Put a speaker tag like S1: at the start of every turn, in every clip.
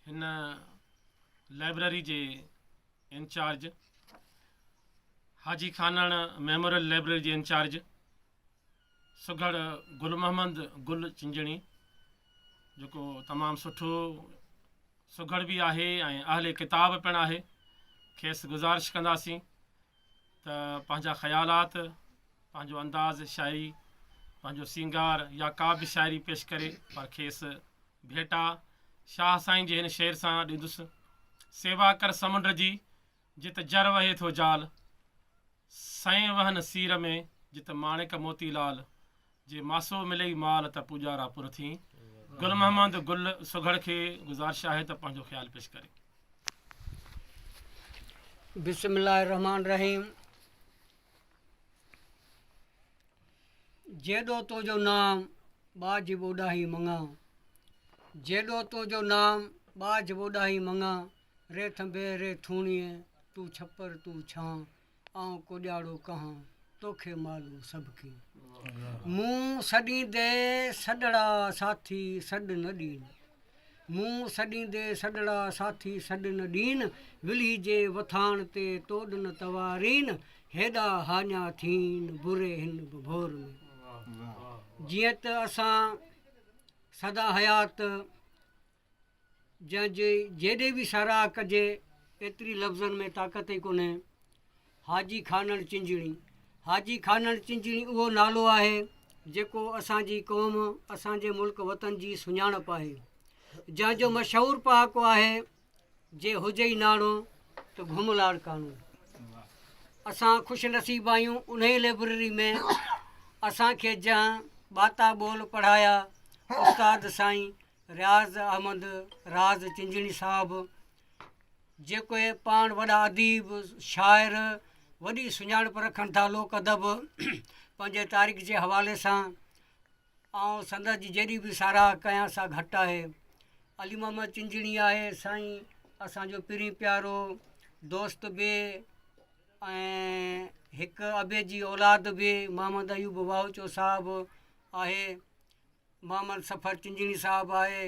S1: هن لائبريري جي incharge Haji Khanan memorial library جي انچارج سگهڙ گل محمد گل چنجڻي جيڪو تمام سٺو سگهڙ به آهي ۽ اهل ڪتاب پڻ آهي کيس گذارش ڪنداسين ته پنهنجا خيالات، پنهنجو انداز شاعري، پنهنجو سينگار يا ڪا به شاعري پيش ڪري پر کيس ڀيٽا شاهه سائين جي هن شعر سان ڏيندس، سيوا ڪر سمنڊ جي، جت جر وهي ٿو جال، سئين وهن سير ۾، جت ماڻڪ موتي لال. جي ماسو ملئي مال ته پوڄارا پر ٿين. گل محمد گل سگهڙ کي گذارش آهي ته پنهنجو خيال پيش ڪري. بسم
S2: الله الرحمن الرحيم جيڏو تنهنجو نام ٻاجهه ٻوڏاهي مڱان جيڏو تنهنجو نام ٻاجهه ٻوڏاهي مڱان ري ٿنڀي ري ٿوڻيء تون ڇپر تون ڇان آئون ڪوڏياڙو ڪهان توکي معلوم سڀ ڪين مون سڏيندي سڏڙا ساٿي سڏ نه ڏين مون سڏيندي سڏڙا ساٿي سڏ نه ڏين ولهي جي وٿاڻ تي توڏ نه توارين هيڏا هاڃا ٿين بري هن به ڀور ۾ جيئن ته اسان سدا حيات جنهن جي جيڏي به ساراهه ڪجي ايتري لفظن ۾ طاقت ئي ڪونهي. حاجي خانڻ چنجڻي، حاجي خانڻ چنجڻي اهو نالو آهي جيڪو اسان جي قوم، اسان جي ملڪ وطن جي سڃاڻپ آهي. جنهن جو مشهور پهاڪو آهي، جي هجئي ناڻو ته گهم لاڙڪاڻو. اسان خوش نصيب آهيون انهي لئبرري ۾ اسان کي جنهن ٻاتا ٻول پڙهايا استاد سائين رياض احمد راز چنجڻي صاحب جيڪي پاڻ وڏا اديب شاعر وڏي سڃاڻپ رکن ٿا لوڪ ادب پنهنجي تاريخ جي حوالي سان آئون سندس جي جيڏي بي ساراهه ڪيان سا گهٽ آهي علي محمد چنجڻي آهي سائين اسانجو پرين پيارو دوست به ۽ هڪ ابي جي اولاد به محمد ايوب واهوچو صاحب آهي محمد سفر چنجڻي صاحب آهي،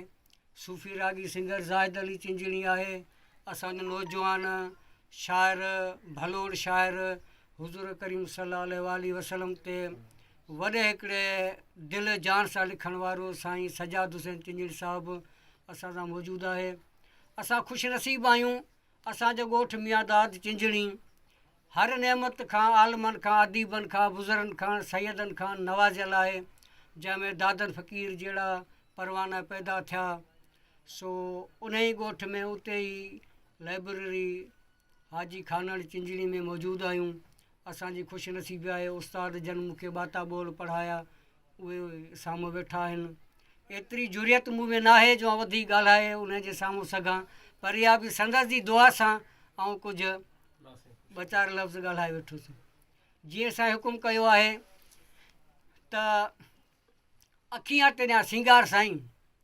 S2: صوفي راڳي سنگر زاهد علي چنجڻي آهي، اسان جو نوجوان شاعر ڀلوڙ شاعر حضور ڪريم صلي الله عليه واٰله وسلم تي وڏي هڪڙي دل جان سان لکڻ وارو سائين سجاد حسين چنجڻي صاحب اسان سان موجود آهي اسان خوش نصيب آهيون اسان جو ڳوٺ ميانداد چنجڻي هر نعمت کان عالمن کان اديبن کان بزرن کان سيدن کان نوازيل آهي جنهن ۾ دادن فقير جهڙا پروانا پيدا ٿيا سو انهي ڳوٺ ۾ اتي ئي لائبرري حاجي خانڻ چنجڻي ۾ موجود آهيون اسان جي خوش نصيبي آهي استاد جن مون کي ٻاتا ٻول پڙهايا اهي سامهون ويٺا آهن. ايتري جرئت مون ۾ ناهي جو آئون وڌيڪ ڳالهائي انهن جي سامهون سگهان، پر اها به سندس جي دعا سان آئون ڪجهه ٻه چار لفظ ڳالهائي ويٺس. جيئن سائين حڪم ڪيو آهي ته اکيان تيريان سينگار سائين.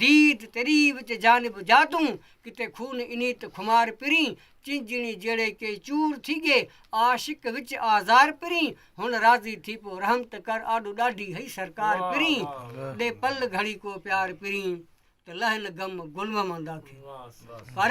S2: ديد تري وچ جانب جاتون، ڪٿي خون انيت خمار پرين، چينجهڻي جهڙي ڪي چور ٿي ڳي، عاشق وچ آزار پرين، هن راضي ٿي پو رحم ته ڪر، آڏو ڏاڍي هئي سرڪار پرين، ڏي پل گهڙي ڪو پيار پرين، ته لهن غم گلمحمدا کي. پر